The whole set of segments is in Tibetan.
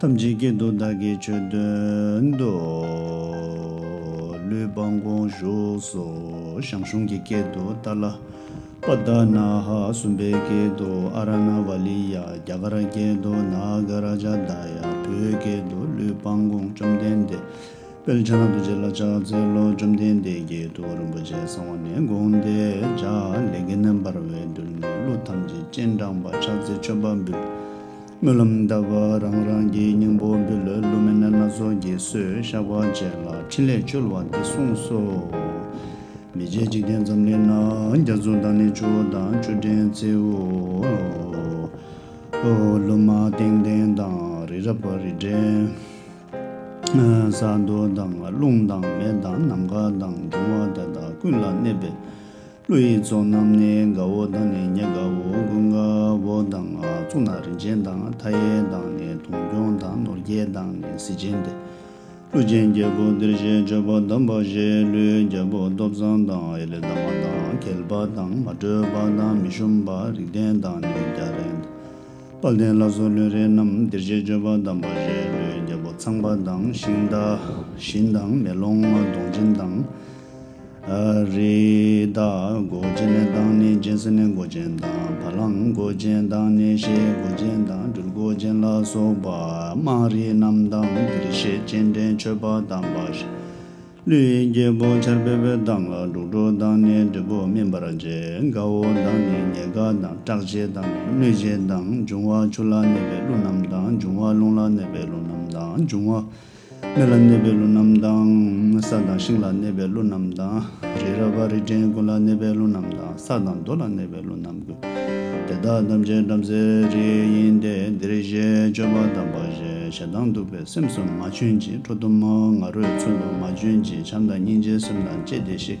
ཐམས་ཅད་ཀྱི་དུག་བདག་གིས་ཆོད་དོན་དུ། ལུས་སྦངས་དགོངས་བཞུགས་སུ་ཞང་ཞུང་གི་སྐད་དུ་ཏཱ་ལ་པ་དཱ་ནཱ་ཧ་སུམ་པའི་སྐད་དུ་ཨ་ར་ན་བ་ལི་ཡ་རྒྱ་གར་སྐད་དུ་ནཱ་ག་ར་ཇ་དཱ་ཡ་བོད་སྐད་དུ་ལུས་སྦངས་དགོངས་བཅོམ་ལྡན་འདས་དཔལ་ཕྱག་ན་རྡོ་རྗེ་ལ་ཕྱག་འཚལ་ལོ་བཅོམ་ལྡན་འདས་ཀྱིས་ཐུགས་རིན་པོ་ཆེ་གསང་བ་ནས་དགོངས་ཏེ་ལྗགས་ལས་གནན་པར་འོད་དུ་ནས་གླུ་ཐམས་ཅད་སྤྱན་དྲངས་པ་ཕྱག་འཚལ་མཆོད་པ་འབུལ། སྨོན་ལམ་གདབ་པ་རང་རང་གི་སྙིང་པོ་འབུལ་ལོ་བསླུ་མེད་སྣ་ཚོགས་ཀྱི་གསོལ་བཤགས་བ་བཅས་ལ་ཕྲིན་ལས་བཅོལ་བ་འདི་གསུངས་སོ། མི་མཇེད་འཇིག་རྟེན་འཛམ་གླིང་ན་རྒྱ་མཚོ་དང་ནི་ཆུ་བོ་དང་ཆུ་ཕྲན་བརྩེའོ། ལུ་མ་ལྟེང་ལྟེང་དང་རི་རབ་རི་བྲན། ས་རྡོ་དང་རླུང་དང་མེ་དང་ནམ་མཁའ་དང་འབྱུང་བ་དེ་དག་ཀུན་ལ་གནས་པའི་ཀླུ་ཡི་ཚོགས་རྣམས་ནི་དགའ་བོ་དང་ནི་མྱི་དགའ་བོ་དགུ་དགའ་བོ་དང་གཙུག་ན་རིན་ཆེན་དང་མཐའ་ཡས་དང་ནི་དུང་སྐྱོང་དང་ནོར་རྒྱས་དང་ནི་གཟི་བྱིན་ཏེ། ཀླུ་ཆེན་བརྒྱད་པོ་འདིར་བཞེས་སྤྱོད་པ་དམ་པ་བཞེས་ཀླུའི་རྒྱལ་པོ་སྟོབས་བཟང་དང་ཨེ་ལི་དང་མ་དང་གལ་པ་དང་མ་དྲོས་པ་དང་མི་ཞུམ་པ་རིགས་ལྡན་དང་ནི་རྒྱ་ལྡན་དང་དཔལ་ལྡན་བླ་བཟོ་ལུས་རེ་རྣམས་འདིར་བཞེས་སྤྱོད་པ་དམ་པ་བཞེས་ཀླུའི་རྒྱལ་པོ་ཚངས་པ་དང་ཤིང་རྟ་བཞིན་དང་མེ་ལོང་གདོང་སྦྱིན་དང། རི་དྭགས་མགོ་ཅན་དང་ནི་སྦྱིན་སྲེག་ནི་མགོ་ཅན་དང་བ་ལང་མགོ་ཅན་དང་ནི་ཤའི་མགོ་ཅན་དང་སྦྲུལ་མགོ་ཅན་ལ་སོགས་པ་དམངས་རིགས་རྣམས་དང་འདིར་བཤད་སྤྱན་འདྲེན་མཆོད་པ་དང་འབའ་ཞིག། ཀླུའི་རྒྱལ་པོ་ཆར་འབེབས་པའི་མདངས་ལ་འབྲུག་སྒྲོ་དང་ནི་འབྲས་བུ་སྨིན་པར་བྱེད་དགའ་བོ་དང་ནི་ཉེ་དགའ་དང་སྐྲག་བྱེད་དང་ནི་གནོད་བྱེད་དང་འབྱུང་བ་ཆུ་ལ་གནས་པའི་ཀླུ་རྣམས་དང་འབྱུང་བ་རླུང་ལ་གནས་པའི་ཀླུ་རྣམས་དང་འབྱུང་བ། མེ་ལ་གནས་པའི་ཀླུ་རྣམས་དང། ས་དང་ཤིང་ལ་གནས་པའི་ཀླུ་རྣམས་དང། རི་རབ་བ་རི་སྤྲིན་ཀུན་ལ་གནས་པའི་ཀླུ་རྣམས་དང་ས་དང་རྡོ་ལ་གནས་པའི་ཀླུ་རྣམས་ཀུན། དེ་དག་ཐམས་ཅད་བྲམ་ཟེའི་རིགས་ཡིན་ཏེ་འདིར་བཞེད་སྤྱོད་པ་དམ་པ་ཞེས་ཞེ་སྡང་གདུག་པའི་སེམས་སུ་མ་བྱོན་ཅིག་ཁྲོ་གཏུམ་མོ་ང་རོས་ཚུལ་དུ་མ་བྱོན་ཅིག་བྱམས་དང་སྙིང་རྗེའི་སེམས་དང་བཅས་ཏེ་ཤིག།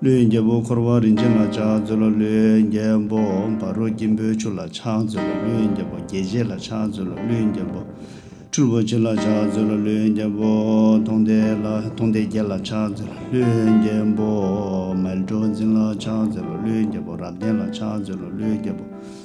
ཀླུའི་རྒྱལ་པོ་འཁོར་བ་རིན་ཆེན་ལ་ཕྱག་མཛོད་ལ་ཀླུའི་རྒྱལ་པོ་འབའ་རུ་སྐྱིན་པོའི་ཆུ་ལ་ཕྱག་མཛོད་ལ་ཀླུའི་རྒྱལ་པོ་རྒྱལ་བྱེད་ལ་ཕྱག་མཛོད་ལ་ཀླུའི་རྒྱལ་པོ་ཁྲུལ་པོ་ཆེ་ལ་ཕྱག་མཛོད་ལ་ཀླུའི་རྒྱལ་པོ་མཐོང་ལྡན་ལ་མཐོང་ལྡན་རྒྱལ་ལ་ཕྱག་མཛོད་ལ་ཀླུའི་རྒྱལ་པོ་མལ་གྲོ་འཛིན་ལ་ཕྱག་མཛོད་ལ་ཀླུའི་རྒྱལ་པོ་རབ་ལྡན་ལ་ཕྱག་མཛོད་ལ་ཀླུའི་རྒྱལ་པོ།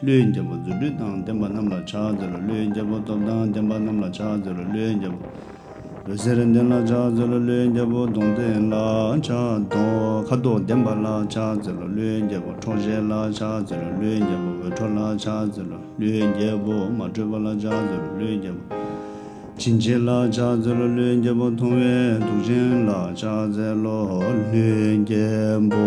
ཀླུའི་རྒྱལ་པོ་རྫུ་འཕྲུལ་དང་ལྡན་པ་རྣམས་ལ་ཕྱག་འཚལ་ལོ་ཀླུའི་རྒྱལ་པོ་སྟོབས་དང་ལྡན་པ་རྣམས་ལ་ཕྱག་འཚལ་ལོ་ཀླུའི་རྒྱལ་པོ་འོད་ཟེར་ལྡན་ལ་ཕྱག་འཚལ་ལོ་ཀླུའི་རྒྱལ་པོ་གདོང་བརྟེན་ལ་ཕྱག་འཚལ། ཁ་དོག་ལྡན་པ་ལ་ཕྱག་འཚལ་ལོ་ཀླུའི་རྒྱལ་པོ་ཁྲོ་ཞལ་ལ་ཕྱག་འཚལ་ལོ་ཀླུའི་རྒྱལ་པོ་འོད་འཕྲོ་ལ་ཕྱག་འཚལ་ལོ་ཀླུའི་རྒྱལ་པོ་མ་དྲོས་པ་ལ་ཕྱག་འཚལ་ལོ་ཀླུའི་རྒྱལ་པོ་བྱིན་ཆེ་ལ་ཕྱག་འཚལ་ལོ་ཀླུའི་རྒྱལ་པོ་མཐོང་བའི་གདུག་ཅན་ལ་ཕྱག་འཚལ་ལོ་ཀླུའི་རྒྱལ་པོ།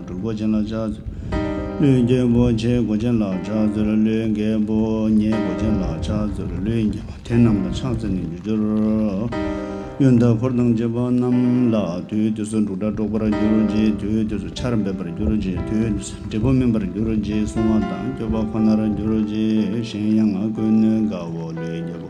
སྒྲུབ་གོ་ཆེན་ལ་ཕྱག་འཚོལ། ཀླུའི་རྒྱལ་པོ་ཆེ་གོ་ཆེན་ལ་ཕྱག་འཚོལ་ཀླུའི་རྒྱལ་པོ་ཉེ་གོ་ཆེན་ལ་ཕྱག་འཚོལ་ཀླུའི་རྒྱལ་པོ་དེ་རྣམས་ལ་ཕྱག་འཚལ་ནས་རྒྱུ་སྦྱོར། གཡོན་དང་འཁོར་དང་བཅས་པ་རྣམས་ལ་དུས་དུས་སུ་འབྲུག་སྒྲ་སྒྲོགས་པར་གྱུར་ཅིག་དུས་དུས་སུ་ཆར་འབེབས་པར་གྱུར་ཅིག་དུས་དུས་སུ་འབྲས་བུ་སྨིན་པར་གྱུར་ཅིག་བསྲུང་བ་དང་སྐྱོབ་པ་ཁོ་ནར་གྱུར་ཅིག་གཞན་ཡང་ཀུན་ནུས་དགའ་བོ་ཀླུའི་རྒྱལ་པོ།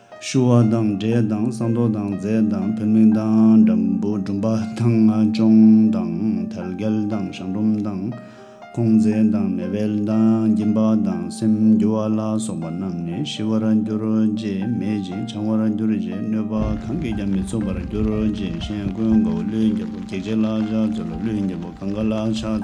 ཞུ་བ་དང་འབྲས་དང་ས་མདོ་དང་རྫས་དང་ཕུལ་མིང་དང་འགྲམ་བུ་སྦྲུམ་པ་དང་ཅོང་དང་དལ་གལ་དང་ཞང་སྦྲུམ་དང་ཁོང་རྫས་དང་མེ་དབལ་དང་འགྱིང་བག་དང་སེམས་འགྱུ་བ་ལ་སོགས་པ་རྣམས་ནི་ཞི་བར་འགྱུར་རོ་རྗེས་མེད་ཅིང་བྱང་བར་འགྱུར་རྗེས་གནོད་པ་གང་གིས་ཀྱང་མི་ཚུགས་པར་འགྱུར་རོ་རྗེས་གཞན་ཀུན་དགའ་བོ་ཀླུའི་རྒྱལ་པོ་བགེགས་བྱེད་ལ་ཕྱག་འཚོལ་ལོ་ཀླུའི་རྒྱལ་པོ་གང་ག་ལ་ཕྱག་འཚོལ།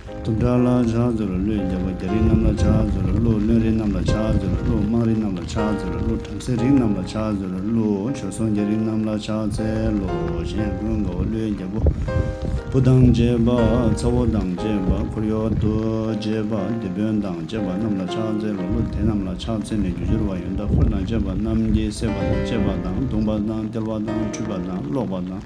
དུ་འདྲ་ལ་ཆགས་ཚུལ་ལ་བློས་འཇགས་པ་རྒྱ་རིགས་རྣམས་ལ་ཆགས་ཚུལ་ལ་བློ་བློན་རིགས་རྣམས་ལ་ཆགས་ཚུལ་ལ་བློ་དམངས་རིགས་རྣམས་ལ་ཆགས་ཚུལ་ལ་བློ་བྲམ་ཟེ་རིགས་རྣམས་ལ་ཆགས་ཚུལ་ལ་བློ་བྱོལ་སོང་རྒྱ་རིགས་རྣམས་ལ་ཆགས་ཚལ་ལོ་གཞན་ཀུན་དགའ་བ་བློས་འཇགས་པོ་བུ་དང་བཅས་པ་ཚ་བོ་དང་བཅས་པ་འཁོར་གཡོག་ཏུ་བཅས་པ་སྡེ་དཔོན་དང་བཅས་པ་རྣམས་ལ་ཆགས་ཚལ་ལོ་བློ་དེ་རྣམས་ལ་ཆགས་ཚལ་ནས་རྒྱུ་སྦྱོར་བ་ཡོན་བདག་འཁོར་དང་བཅས་པ་རྣམས་ཀྱིས་བསད་པ་དང་བཅད་པ་དང་བརྡུངས་པ་དང་སྟེར་བ་དང་འཁྲུད་པ་དང་བརློག་པ་དང།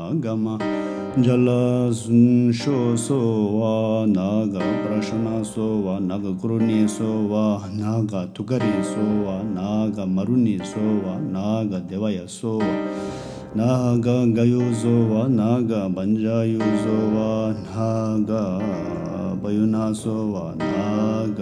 ག་མ། འཇའ་ལ་གཟུངས་བཤོས་གསོལ་བ། ན་ག་པྲ་ཤོ་ན་གསོལ་བ། ན་ག་གུ་རུ་ནི་གསོལ་བ། ན་ག་ཐུགས་ཀ་རི་གསོལ་བ། ན་ག་མ་རུ་ནི་གསོལ་བ། ན་ག་བདེ་བ་ཡ་གསོལ་བ། ན་ག་འགའ་ཡུ་གསོལ་བ། ན་ག་བ་འཇའ་ཡུ་གསོལ་བ། ན་ག་བ་ཡུ་ན་གསོལ་བ། ན་ག།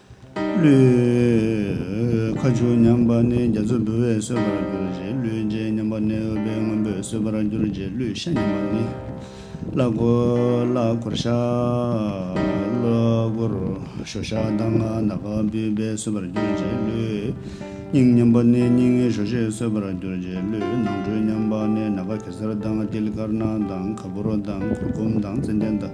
ཀླུའི་ཁ་ཆུ་མཉམ་པ་ནི་རྒྱ་མཚོ་འབུལ་བས་སོས་པར་གྱུར་རྗེས་ཀླུའི་རྗེས་མཉམ་པ་ནི་འོད་པའི་སྔོན་པོས་སོས་པར་གྱུར་རྗེས་ཀླུའི་ཤ་མཉམ་པ་ནི་བླ་གོལ་བླ་གོར་ཤ་བློ་གོར་ཞོ་ཤ་དང་ནག་ནག་འབུལ་བས་སོས་པར་གྱུར་རྗེས་ཀླུའི་སྙིང་མཉམ་པ་ནི་སྙིང་ཞོ་ཞེས་སོས་པར་གྱུར་རྗེས་ཀླུའི་ནང་ཁྲོལ་མཉམ་པ་ནི་ནཱ་ག་གེ་སར་དང་ཏིལ་དཀར་ནག་དང་ག་བུར་དང་གུར་གུམ་དང་ཙནྡན་དང།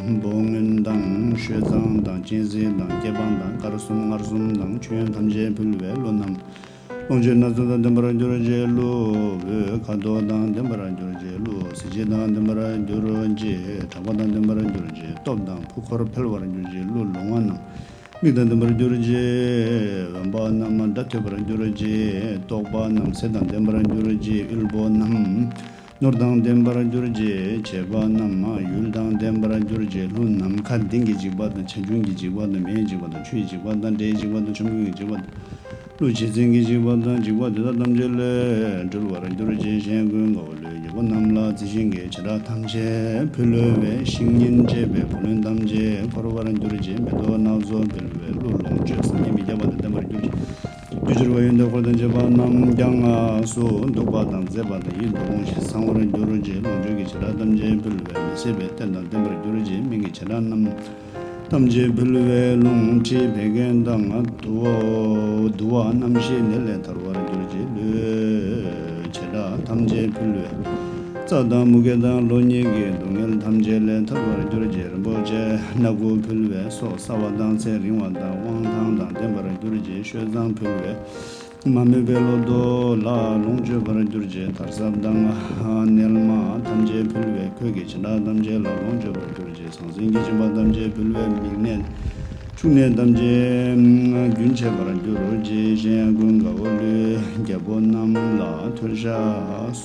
འབུམ་སྔོན་དང་བཤོས་གཙང་དང་གཅན་གཟན་དང་སྐྱེ་འབངས་དང་དཀར་གསུམ་མངར་གསུམ་དང་མཆོད་ཡོན་ཐམས་ཅད་ཕུལ་བའི་ལོ་རྣམས། ལོངས་སྤྱོད་སྣ་ཚོགས་དང་ལྡན་པར་གྱུར་རྗེས་ཀླུ་བོའི་ཁ་དོག་དང་ལྡན་པར་གྱུར་རྗེས་ཀླུ་བསེ་བྱི་དང་ལྡན་པར་གྱུར་རྗེས་གྲགས་པ་དང་ལྡན་པར་གྱུར་རྗེས་སྟོབས་དང་ཕུག་འཁོར་འཕེལ་བར་གྱུར་རྗེས་ཀླུ་ལོང་བ་རྣམས། མིག་དང་ལྡན་པར་གྱུར་རྗེས་འོན་པ་རྣམས་སྒྲ་ཐོས་པར་གྱུར་རྗེས་རྟོག་པ་རྣམས་ཟས་དང་ལྡན་པར་གྱུར་རྗེས་དབུལ་པོ་རྣམས། ནོར་དང་ལྡན་པར་གྱུར་རྗེས་བྱེད་པ་རྣམས་མ་ཡུལ་དང་ལྡན་པར་གྱུར་རྗེས་ལྷུན་ནམ་མཁའ་ལྡིང་གི་འཇིགས་པ་དང་བྱ་ཁྱུང་གི་འཇིགས་པ་དང་མེའི་འཇིགས་པ་དང་ཆུའི་འཇིགས་པ་དང་དྲའི་འཇིགས་པ་དང་ཆོམ་རྐུན་གྱི་འཇིགས་པ་དང་ཀླུ་བྱེད་བཙན་གྱི་འཇིགས་པ་དང་འཇིགས་པ་དེ་དག་ཐམས་ཅད་ལས་གྲོལ་བར་གྱུར་རྗེས་གཞན་ཀུན་དགའ་བོ་ལུས་ཀྱི་བུ་རྣམས་ལ་རྩི་ཤིང་གི་བྱེ་བྲག་ཐམས་ཅད་ཕུལ་ལོ་བའི་ཤིང་ཉིན་བཅས་པའི་བུ་ལོན་ཐམས་ཅད་འཁོར་བར་གྱུར་རྗེས་མེ་ཏོག་ནག་བཟོ་འབུལ་བའི་གླུ་ལོངས་སྤྱོད་སངས་རྒྱས་མི་ཁྱབ་པ་དང་ལྡན་པར་གྱུར་རྗེས། རྒྱུ་འགྱུར་བ་ཡོད་འདོད་འཁོར་དང་བཅས་པ་རྣམས་ཀྱང་ངག་སོ་འདུག་པ་དང་མཛེས་པ་དང་ཡིད་དུ་འོང་ཞིང་བཟང་བར་འགྱུར་རོ་ཅེས་ལོངས་སྤྱོད་ཀྱི་བྱེ་བྲག་ཐམས་ཅད་འབུལ་བས་མི་ཟད་པའི་རྟེན་དང་ལྡན་པར་འགྱུར་རོ་ཅེས་མིང་གི་བྱེ་བྲག་རྣམས་ཐམས་ཅད་འབུལ་བས་ལོངས་སྤྱོད་བད་ཀན་དང་དུ་བ་རྣམ་ཤེས་ནད་ལས་ཐར་བར་འགྱུར་རོ་ཅེས་ལུས་བྱེ་བྲག་ཐམས་ཅད་འབུལ་བས། རྩ་དང་མུ་གེ་དང་ལོ་གཉིས་ཀྱི་སྡུག་བསྔལ་ཐམས་ཅད་ལས་ཐར་བར་གྱུར་རྗེས་རིན་པོ་ཆེ་སྣ་དགུ་ཕུལ་བས་སྲོག་གསར་བ་དང་ཚེ་རིང་བ་དང་དབང་ཐང་དང་ལྡན་པར་གྱུར་རྗེས་བཤོས་གཙང་ཕུལ་བས་མ་རྨོས་པའི་ལོ་ཏོག་ལ་ལོངས་སྤྱོད་པར་གྱུར་རྗེས་དར་ཟབ་དང་མཎྜལ་མ་ཐམས་ཅད་ཕུལ་བས་གོས་ཀྱི་བྱིན་བདག་ཐམས་ཅད་ལ་ལོངས་སྤྱོད་པར་གྱུར་རྗེས་ཟང་ཟིང་གི་བྱིན་པ་ཐམས་ཅད་ཕུལ་བས་མིག་ནད་ཕྱུགས་ནད་ཐམས་ཅད་རྒྱུན་ཆད་པར་གྱུར་རྗེས་གཞན་ཡང་ཀུན་དགའ་བོ་ཀླུའི་རྒྱལ་པོ་རྣམས་ལ་མཐོལ་བཤགས་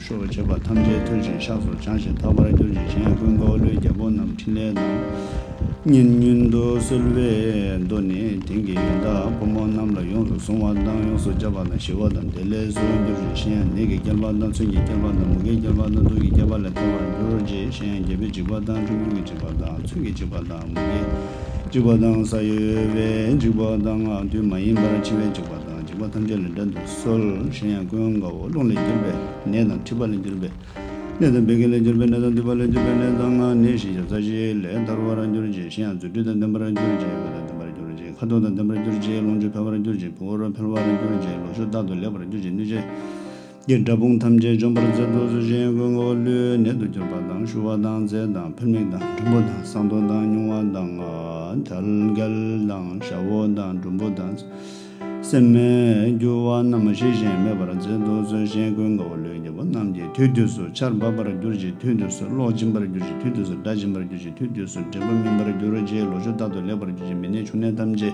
ཤོག་བུ་བྱེད་པ་ཐམས་ཅད་ཐོད་ཅིང་ཤགས་སུ་བྱང་ཞིང་ཐག་པར་གྱུར་ཅིང་གཞན་ཀུན་འགའ་བ་ལུའི་རྒྱལ་པོ་རྣམས་ཕྲིན་ལས་དང། སྙན་སྙུན་དུ་གསོལ་བའི་མདོ་ནི་དེང་གི་ཡོན་བདག་ཕོ་མོ་རྣམས་ལ་ཡོངས་སུ་བཟུང་བ་དང་ཡོངས་སུ་སྦྱར་བ་དང་ཞི་བ་དང་བདེ་ལེགས་སུ་འགྱུར་ཞིང་གཞན་ཡང་ནད་ཀྱིས་བསྐྱལ་བ་དང་མཚོན་གྱིས་བསྐྱལ་བ་དང་མུ་གེས་བསྐྱལ་བ་དང་དུག་གིས་བསྐྱལ་བ་ལས་ཐར་བར་འགྱུར་རོ་ཅེས་གཞན་ཡང་རྒྱལ་པོས་འཇིགས་པ་དང་ཁྲིམས་གཅོད་ཀྱིས་འཇིགས་པ་དང་མཚོན་གྱིས་འཇིགས་པ་དང་མུ་གེས་འཇིགས་པ་དང་ས་གཡོ་བས་འཇིགས་པ་དང་དུས་མ་ཡིན་པར་འཆི་བས་འཇིགས་པ་དང། འཇིགས་པ་ཐམས་ཅད་ལས་བསྒྲལ་དུ་གསོལ། གཞན་ཡང་ཀུན་དགའ་བོ་རླུང་ལས་གྱུར་པའི་ནད་དང་མཁྲིས་པ་ལས་གྱུར་པའི་ནད་དང་བད་ཀན་ལས་གྱུར་པའི་ནད་དང་མདུད་པ་ལས་གྱུར་པའི་ནད་དང་སྔགས་ནི་ཤེས་བྱ་རྩ་བཞི་ལས་འདར་བར་གྱུར་ཅིག་གཞན་ཡང་རྫུ་འཕྲུལ་དང་ལྡན་པར་གྱུར་ཅིག་མགོ་དང་ལྡན་པར་གྱུར་ཅིག་ཁ་དོག་དང་ལྡན་པར་གྱུར་ཅིག་ལོངས་སྤྱོད་འཕེལ་བར་གྱུར་ཅིག་བུ་འོར་འཕེལ་བར་གྱུར་ཅིག་ལོ་ཤུགས་རྟག་ཏུ་ལེགས་པར་གྱུར་ཅིག་གནོད་བྱེད། ཀྱི་དགྲ་དཔུང་ཐམས་ཅད་འཇོམས་པར་མཛད་དུ་གསོལ་ཞིང་གོས་བསྔོ་བ་ལུས་ནད་དུ་གྱུར་པ་དང་ཤུ་བ་དང་རྫས་དང་ཕུར་མིག་དང་འབྲུམ་བུ་དང་བསང་གཏོར་དང་སྨྱུང་བ་དང་དལ་འགལ་དང་ཞྭ་བོ་དང་འབྲུམ་བུ་དང་སེམས་མེད་རྒྱུ་བ་རྣམས་མ་ཞི་ཞིང་མེད་པར་མཛད་དུ་གསོལ་ཞིང་གོས་བསྔོ་བ་ལུས་ཀྱི་བུ་རྣམས་ཀྱི་དུས་དུས་སུ་ཆར་འབབ་པར་གྱུར་ཅིག་དུས་དུས་སུ་གློག་འབྱིན་པར་གྱུར་ཅིག་དུས་དུས་སུ་སྒྲ་འབྱིན་པར་གྱུར་ཅིག་དུས་དུས་སུ་འབྲས་བུ་སྨིན་པར་གྱུར་ཅིག་ལོ་ཆུ་རྟག་ཏུ་ལེགས་པར་གྱུར་ཅིག་མི་ནད་ཕྱུགས་ནད་ཐམས་ཅད་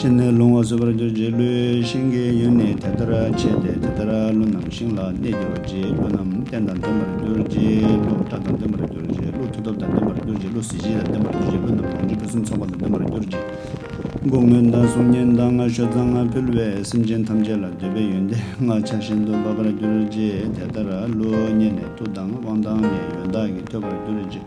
སྤྲིན་ནི་རླུང་བ་ཟོས་པར་གྱུར་རྗེས་ཀླུའི་ཤིང་གི་གཡོན་ནི་དེ་ལྟར་ཕྱེ་སྟེ་དེ་ལྟར་ཀླུ་རྣམས་ཤིང་ལ་གནས་གྱུར་རྗེས་ཀླུ་རྣམས་རྟེན་དང་ལྡན་པར་གྱུར་རྗེས་ཀླུ་སྐྲ་དང་ལྡན་པར་གྱུར་རྗེས་ཀླུ་མཐུ་སྟོབས་དང་ལྡན་པར་གྱུར་རྗེས་ཀླུ་གཟི་བརྗིད་དང་ལྡན་པར་གྱུར་རྗེས་ཀླུ་རྣམས་ལོངས་སྤྱོད་ཕུན་སུམ་ཚོགས་པ་དང་ལྡན་པར་གྱུར་རྗེས། སྒོ་སྔོན་དང་གཟུགས་བརྙན་དང་ངར་ཤུགས་དང་ངར་ཕུལ་བས་སེམས་ཅན་ཐམས་ཅད་ལ་འདོད་པའི་ཡོན་ཏན་ལྔ་ཆ་བཞིན་དུ་འབབ་པར་གྱུར་རྗེས་དེ་ལྟར་ཀླུ་གཉན་ནི་མཐུ་དང་དབང་དང་ནི་ཡོན་བདག་གིས་ཐོས་པར་གྱུར་རྗེས།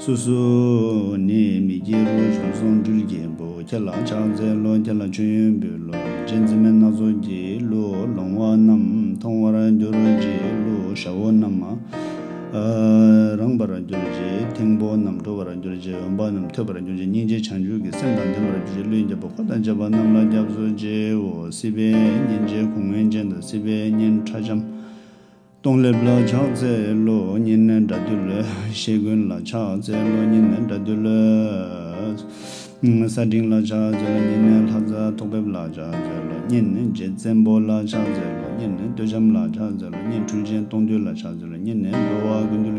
སོ་སོ་ནི་མི་དགེ་རུ་བྱུང་སོང་འགྲུལ་རྒྱལ་པོ་ཁྱེད་ལ་ཕྱག་འཚལ་ལོ་ཁྱེད་ལ་མཆོད་ཡོན་འབུལ་ལོ་རྗེ་འཛིན་མའི་སྣ་ཚོགས་ཀྱི་གླུ་ལོང་བ་རྣམས་མཐོང་བར་གྱུར་རྗེས་གླུ་ཞྭ་བོ་རྣམས་རངས་པར་གྱུར་རྗེས་ཐེང་པོ་རྣམས་དྲོ་བར་གྱུར་རྗེས་འོན་པ་རྣམས་ཐོས་པར་གྱུར་རྗེས་སྙིང་རྗེ་བྱང་ཆུབ་ཀྱི་སེམས་དང་ལྡན་པར་གྱུར་རྗེས་ཀླུའི་རྒྱལ་པོ་འཁོར་དང་བཅས་པ་རྣམས་ལ་སྐྱབས་སུ་མཇལ་བའོ་སྲིད་པའི་གཉེན་རྗེ་གུང་མོའི་རྗེས་འདི་སྲིད་པའི་གཉེན་ཁྲ་ལྕམ། སྟོང་ལེབ་ལ་ཕྱག་འཚལ་ལོ། ཉི་ནས་དགྲ་འདུལ་ལོ། ཤེལ་ཀུན་ལ་ཕྱག་འཚལ་ལོ། ཉི་ནས་དགྲ་འདུལ་ལོ། ས་སྤྲིན་ལ་ཕྱག་འཚལ་ལོ། ཉི་ནས་ལྷ་རྫ་ཐོག་འབེབས་ལ་ཕྱག་འཚལ་ལོ། ཉི་ནས་རྗེ་བཙན་པོ་ལ་ཕྱག་འཚལ་ལོ། ཉི་ནས་སྟོད་བྱམས་ལ་ཕྱག་འཚལ་ལོ། ཉི་ནས་འཕྲུལ་ཆེན་སྟོང་འདུལ་ལ་ཕྱག་འཚལ་ལོ། ཉི་ནས་འགྲོ་བ་ཀུན་འདུལ།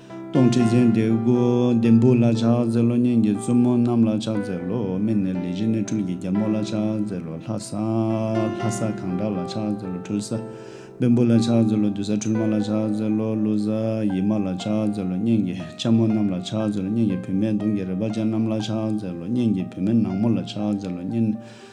སྟོང་ཁྲི་ཚན་ཏེ་དགུ། ལྡེམ་བུ་ལ་ཕྱག་འཚལ་ལོ། གཉེན་གྱི་བཙུན་མོ་རྣམས་ལ་ཕྱག་འཚལ་ལོ། སྨན་ནི་ལས་བཞི་ནི་འཕྲུལ་གྱི་རྒྱལ་མོ་ལ་ཕྱག་འཚལ་ལོ། ལྷ་ས། ལྷ་ས་གང་དག་ལ་ཕྱག་འཚལ་ལོ། འཕྲུལ་ས། བེམ་པོ་ལ་ཕྱག་འཚལ་ལོ། བདུད་ས་འཕྲུལ་མ་ལ་ཕྱག་འཚལ་ལོ། ཀླུ་ས། ཡིད་མ་ལ་ཕྱག་འཚལ་ལོ། གཉེན་གྱི་ལྕམ་མོ་རྣམས་ལ་ཕྱག་འཚལ་ལོ། གཉེན་གྱི་བུད་མེད་དུང་གི་རལ་པ་ཅན་རྣམས་ལ་ཕྱག་འཚལ་ལོ། གཉེན་གྱི་བུད་མེད་ནག་མོ་ལ་ཕྱག་འཚལ་ལོ། གཉེན།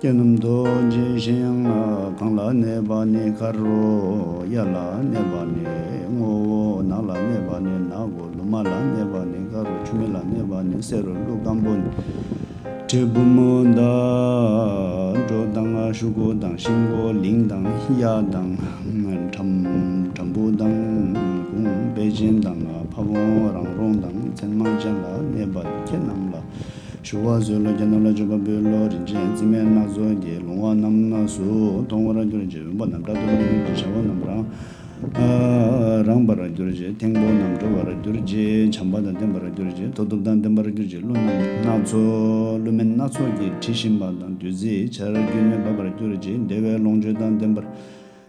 རྒྱན་རྣམས་རྡོ་རྗེ་ཞིང་གང་ལ་གནས་པ་ནི་དཀར་རོ་གཡའ་ལ་གནས་པ་ནི་སྔོ་བོ་ནག་ལ་གནས་པ་ནི་ནག་གོ་ལུ་མ་ལ་གནས་པ་ནི་དཀར་རོ་ཆུ་མེ་ལ་གནས་པ་ནི་སེར་རོ་ཀླུ་སྐམ་པོ་ནི་དྲིལ་བུ་མོ་མདའ་སྒྲོ་དང་ཤུག་གོ་དང་ཤིང་གོ་ལིང་དང་གཡའ་དང་ཁྲམ་བུ་དང་གུང་དཔལ་ཅན་དང་ཕ་བོང་རང་རོང་དང་མཚན་མ་ཅན་ལ་གནས་པ་ནི་ཁྱེད་རྣམས་ལ། ཞུ་བ་བཟོས་ལོ་རྒྱ་ནག་ལ་འབྱོར་པ་པོའི་ལོ་རིན་ཆེན་རྩི་སྨན་སྣ་ཚོགས་ཀྱི་ལུང་བ་རྣམས་སུ་མཐོང་བར་གྱུར་ཅིག་བོན་པོ་རྣམས་དགྲ་གཏུམ་མོ་རྒྱུད་ཀྱི་བྱ་བ་རྣམས་རང་རངས་པར་གྱུར་ཅིག་ཐེང་པོ་རྣམས་གྲོལ་བར་གྱུར་ཅིག་བྱམས་པ་དང་ལྡན་པར་གྱུར་ཅིག་མཐུ་སྟོབས་དང་ལྡན་པར་གྱུར་ཅིག་ཀླུ་རྣམས་སྣ་ཚོགས་ཀླུ་སྨན་སྣ་ཚོགས་ཀྱི་དྲི་ཞིམ་པ་དང་བདུད་རྩིའི་ཆར་རྒྱུན་གནས་པར་གྱུར་ཅིག་བདེ་བའི་ལོངས་སྤྱོད་དང་ལྡན་པར།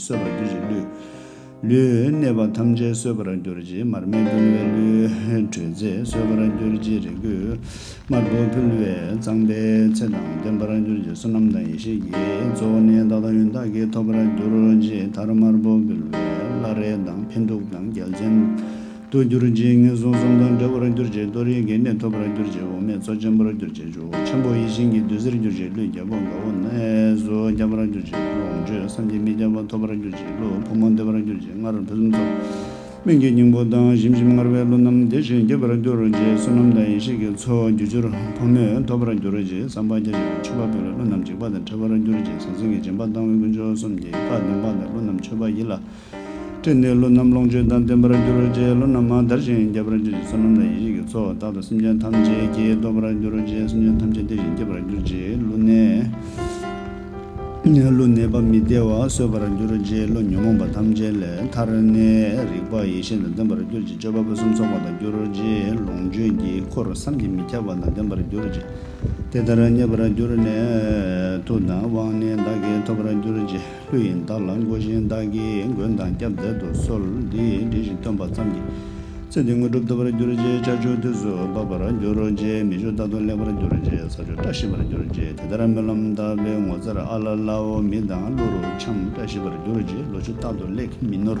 གསོད་པར་འགྱུར་གྱི་ལུས། ལུས་གནས་པ་ཐམས་ཅད་གསོད་པར་འགྱུར་གྱི་མར་མེ་འབུལ་བའི་ལུས། དྲོད་རྫས་གསོད་པར་འགྱུར་གྱི་རེ་སྐུད། དམར་པོ་འབུལ་བས་གཙང་པའི་ཚེ་དང་ལྡན་པར་འགྱུར་གྱི་བསོད་ནམས་དང་ཡེ་ཤེས་ཀྱི་གཙོ་བོ་ནི་བདག་དང་ཡོན་བདག་གིས་ཐོབ་པར་འགྱུར་གྱི་མཐར་དམར་པོ་འབུལ་བས་བླ་རེ་དང་འཕན་གདུགས་དང་རྒྱལ་མཚན། ཏུ་གྱུར་ཅིང་ངན་སོང་གསུམ་དང་བྲལ་བར་གྱུར་ཅིག་གཏོར་ཡི་གེ་གནས་ཐོབ་པར་གྱུར་ཅིག་འོ་མའི་མཚོ་ཆེན་པོར་གྱུར་ཅིག་ཆུ་བོ་ཆེན་པོ་ཡིད་བཞིན་གྱི་བདུད་རྩིར་གྱུར་ཅིག་ཀླུའི་རྒྱལ་པོ་དགའ་བོ་གནས་སུ་རྒྱ་བར་གྱུར་ཅིག་ལོངས་སྤྱོད་བསམ་གྱིས་མི་ཁྱབ་པ་ཐོབ་པར་གྱུར་ཅིག་ཀླུ་ཕོ་མོ་བདེ་བར་གྱུར་ཅིག་སྔར་ཕུན་སུམ་ཚོགས། སྨིན་གྱི་སྙིང་པོ་དང་ཞིམ་ཞིམ་མངར་བའི་ཀླུ་རྣམས་དེ་བཞིན་རྒྱས་པར་གྱུར་ཅིག་བསོད་ནམས་དང་ཡེ་ཤེས་ཀྱི་མཚོ་རྒྱུ་བཅུར་ཕོ་མོས་འཐོབ་པར་གྱུར་ཅིག་བསམ་པ་རྒྱ་ཆེ་བའི་མཆོད་པ་ཕུལ་ལ་ཀླུ་རྣམས་འཇིགས་པ་དང་བྲལ་བར་གྱུར་ཅིག་ཟང་ཟིང་གི་སྦྱིན་པ་བཏང་བས་དཀོན་མཆོག་གསུམ་གྱིས་བཀའ་བདུན་པ་དང་ཀླུ་རྣམས་མཆོད་པ་ཡིད་ལ་སྤྲོས་བསྣོལ་ལོ་རྣམས་ལོངས་སྤྱོད་དང་ལྡན་པར་འགྱུར་རོ་རྗེའི་ལོ་རྣམས་མང་དར་ཞིང་རྒྱས་པར་འགྱུར་ཅིག་བསོད་ནམས་དང་ཡེ་ཤེས་ཀྱི་ཚོགས་བདག་དང་སེམས་ཅན་ཐམས་ཅད་ཀྱིས་བསྟོད་པར་འགྱུར་རོ་རྗེའི་སེམས་ཅན་ཐམས་ཅད་བདེ་ཞིང་སྐྱིད་པར་གྱུར་ཅིག་ཀླུ་ནད། ཀླུ་ནད་པ་མི་བདེ་བ་གསོད་པར་འགྱུར་རོ་རྗེའི་ཀླུ་ཉོན་མོངས་པ་ཐམས་ཅད་ལས་ཐར་ནས་རིག་པ་ཡེ་ཤེས་དང་ལྡན་པར་གྱུར་ཅིག་སྤྱོད་པ་ཕུན་སུམ་ཚོགས་པ་དང་འགྱུར་རོ་རྗེའི་ལོངས་སྤྱོད་ཀྱི་འཁོར་བསམ་གྱིས་མི་ཁྱབ་པ་དང་ལྡན་པར་གྱུར་ཅིག་དེ་ལྟར་མཉེས་པར་གྱུར་ནས་མཐུ་དང་དབང་ནི་བདག་གིས་ཐོབ་པར་གྱུར་ཅིག། ལྷོད་ཡིན་བདག་ལ་མགོ་བཞིན་བདག་གིས་མགོན་དང་སྐྱབས་མཛད་དུ་གསོལ། འདི་འདྲི་ཞིང་སྟོན་པ་ཙམ་གྱིས། ཚེ་འདི་དངོས་གྲུབ་ཐོབ་པར་གྱུར་ཅིག་ལྕགས་ཆུ་དུས་སུ་འབབ་པར་འགྱུར་རོ་ཅེས་མི་བཞུགས་རྟག་ཏུ་ལེགས་པར་གྱུར་ཅིག་ས་ཆུ་བཀྲ་ཤིས་པར་གྱུར་ཅིག་དེ་ལྟར་སྨོན་ལམ་བཏབ་པས་ངོ་མཚར་ཨ་ལ་ལའོ་མི་དང་ཀླུ་རུ་འཁྱམས་བཀྲ་ཤིས་པར་གྱུར་ཅིག་ལོ་ཆུ་རྟག་ཏུ་ལེགས་མི་ནོར།